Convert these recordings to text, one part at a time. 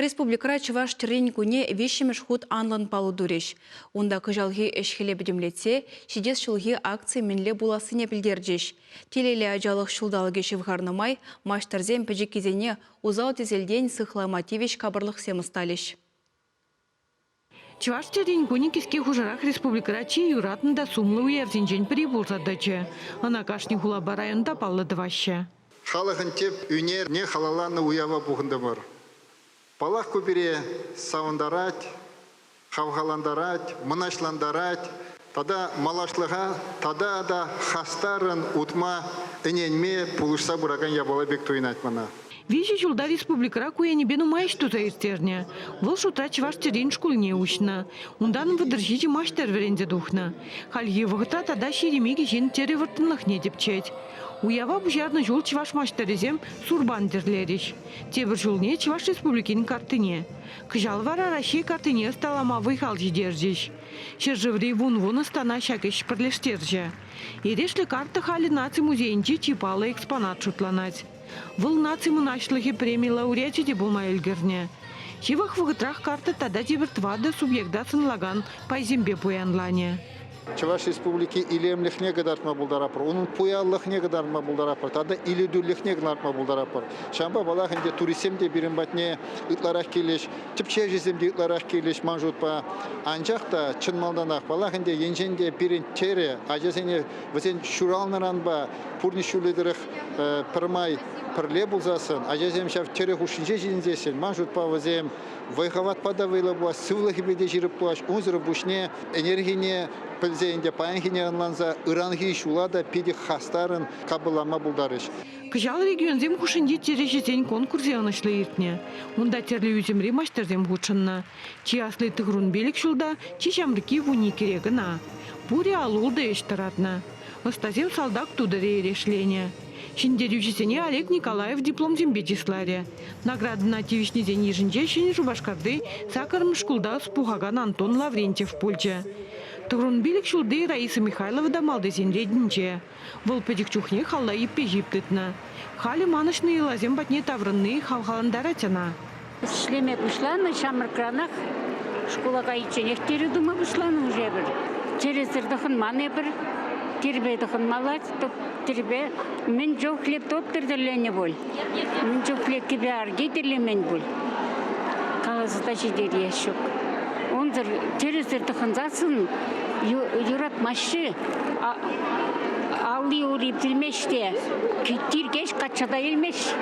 Республикӑра чӑваш тӗррин кунне виҫҫӗмӗш хут анлӑн паллӑ турӗҫ. Унта кӑҫалхи ӗҫ-хӗле пӗтӗмлетсе ҫитес ҫулхи акци мӗнле пулассине пӗлтерчӗҫ. Телейлӗ ачалӑх ҫулталӑкӗ ҫывхарнӑ май маҫтӑрсем пӗчӗккисене усал-тӗселтен сыхлама тивӗҫ капӑрлӑхсем ӑсталӗҫ. Чӑваш чӗлхин кунӗ кӗске хушӑрах республикӑра чи юратнӑ та сумлӑ уявсенчен пӗри пулса тӑчӗ. Ӑна кашни хулапа районта паллӑ тӑваҫҫӗ. Халӑхӑн тӗп ӳнерне халалланӑ уява пухӑнтӑмӑр. Паллах, ку пире савӑнтарать, хавхалантарать, мӑнаҫлантарать, Тата малашлӑха тата та хастаррӑн утма ӗненме пулӑшса пыракан япала пек туйӑнать мана. Виҫӗ ҫулта республикӑра ку енӗпе нумай ӗҫ туса ирттернӗ. Вӑл шутра Чӑваш тӗррин шкулне уҫнӑ. Унтан вӑтӑр ҫичӗ маҫтӑр вӗренсе тухнӑ. Хальхи вӑхӑтра тата ҫирӗм икӗ ҫын тӗрӗ вӑрттӑнлӑхне тӗпчет. Уява пуҫарнӑ ҫул чӑваш маҫтӑрӗсем сурпан тӗрлерӗҫ. Тепӗр ҫулне Чӑваш Республикин картине. Кӑҫал вара Раҫҫей картине ӑсталама вӑй-хал ҫитерчӗҫ. Ҫӗршыври вун-вун ӑстана ҫак ӗҫ пӗрлештерчӗ. Эрешлӗ карта халӗ наци музейӗнчи чи паллӑ экспонат шутланать. Вӑл наци мӑнаҫлӑхӗ преми лауреачӗ те пулма ӗлкӗрнӗ. Ҫывӑх вӑхӑтрах карта тата тепӗр тӑватӑ субъекта сӑнлакан пайсемпе пуянланӗ. Чӑваш Республики илемлӗхне кӑтартма пултаратпӑр, унӑн пуянлӑхне кӑтартма пултаратпӑр тата илӗртӳлӗхне кӑтартма пултаратпӑр. Ҫавӑнпа паллах ӗнтӗ туристсем те пирӗн патне ытларах килӗҫ. Тӗпчевҫӗсем те ытларах килӗҫ ман шутпа. Анчах та чӑн малтанах, паллах ӗнтӗ, енчен те пирӗн чӗрӗ ачасене вӗсен ҫуралнӑранпа пурнӑҫ ҫулӗ тӑрӑх пӗрмай пӗрле пулсассӑн, ачасем ҫав чӗрӗ хушшинче ҫитӗнсессӗн, ман шутпа вӗсем вӑй-хӑватпа та вӑйлӑ пулас, сывлӑхӗпе те ҫирӗп пулас. Унсӑрӑн пуҫне ӗнерхине пӗлсе ӗнтӗ паянхине ӑнланса ыранхи ҫула та питӗ хастаррӑн капӑрланма пултарӗҫ. Кӑҫал регионсем хушшинчи чӗрӗҫӗсен конкурсӗ ӑнӑҫлӑ иртнӗ. Унта тӗрлӗ ӳсӗмри маҫтӑрсем хутшӑннӑ. Чи асли Тыхрунбелик ҫулта, чи ҫамрӑкки вун иккӗре кӑна. Пурӗ ал-ултӑ ӗҫ тӑратнӑ. Ӑстасем салтак тутӑрӗ эрешленӗ. Ҫӗнтерӳҫӗсене Олег Николаев дипломсемпе чысларӗ. Наградӑна тивӗҫнисен йышӗнче Ҫӗнӗ Шупашкарти сакӑрмӗш шкулта ӑс пухакан Антон Лаврентьев пулчӗ. Тыхрунбелик ҫулти Раиса Михайлова та малтисен ретӗнче. Вӑл пӗчӗк чухнех алла ӳппе-ҫип тытнӑ. Халӗ манӑҫнӑ йӑласем патне таврӑнни хавхалантарать ӑна. Ӗҫлеме пуҫланӑ ҫамрӑкранах шкула кайичченех тирӗ тума пуҫланӑ уже эпир. Тирӗсӗр тӑхӑнман эпир. Тирпе тӑхӑнмалла, тирпе мӗн чухлӗ топтӑр тӗлленнӗ пуль. Ун чухне тӗпе арки тӗллемен пуль. Каласа та ҫитерес ҫук. Унсӑр тӗрӗсӗр тӑхӑнсассӑн юратмаҫҫӗ. Алли-ури пӳлмест те, кӳт-тиркеҫ качча та илмест.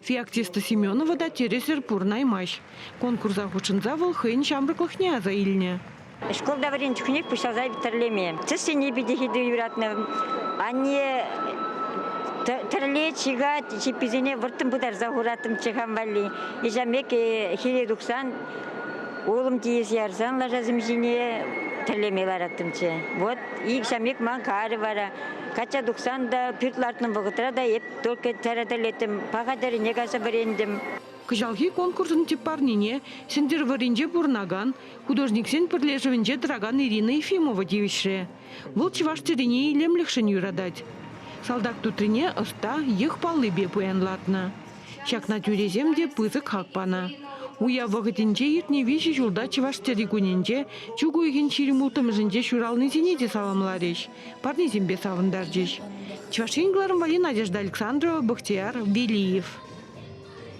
Феоктиста Семенова та тӗрӗсӗр пурӑнаймасть. Конкурса хутшӑнса вӑл хӑйӗн ҫамрӑклӑхне аса илнӗ. Шкул та вӗренчӗкнех пуҫласа тӗрлеме. Тӗссене питӗ хитре юратнӑ. Анне тӗрлет, ҫыхать, чипписене вӑрттӑн пытарса хураттӑм чехам валли. Ичамеке хире тухсан, улӑм тиесе ярсан лашасем ҫине тӗрлеме лараттӑмччӗ. Вот ик ҫамек ман карӗ вара. Качча тухсан та, пӳрт лартнӑ вӑхӑтра та эп только тӗрӗ тӗллеттӗм, паха тӗрӗне кайса вӗрентӗм. Кӑҫалхи конкурсӑн тӗп парнине Сӗнтӗрвӑрринче пурӑнакан Художниксен пӗрлешӗвӗнче тӑракан Ирина Ефимова тивӗҫрӗ. Вӑл чӑваш тӗррине илемлӗхшӗн юратать. Салтак тутрине ӑста йӑх паллипе пуянлатнӑ. Ҫакна тӳресем те пысӑк хак панӑ. Уяв вӑхӑтӗнче иртнӗ виҫӗ ҫулта чӑваш тӗрри кунӗнче чӳк уйӑхӗн ҫирӗм улттӑмӗшӗнче ҫуралнисене те саламларӗҫ, парнесемпе савӑнтарчӗҫ. Чӑваш Ен кӑларӑмварри Надежда Александрова, Бахтияр Велиев.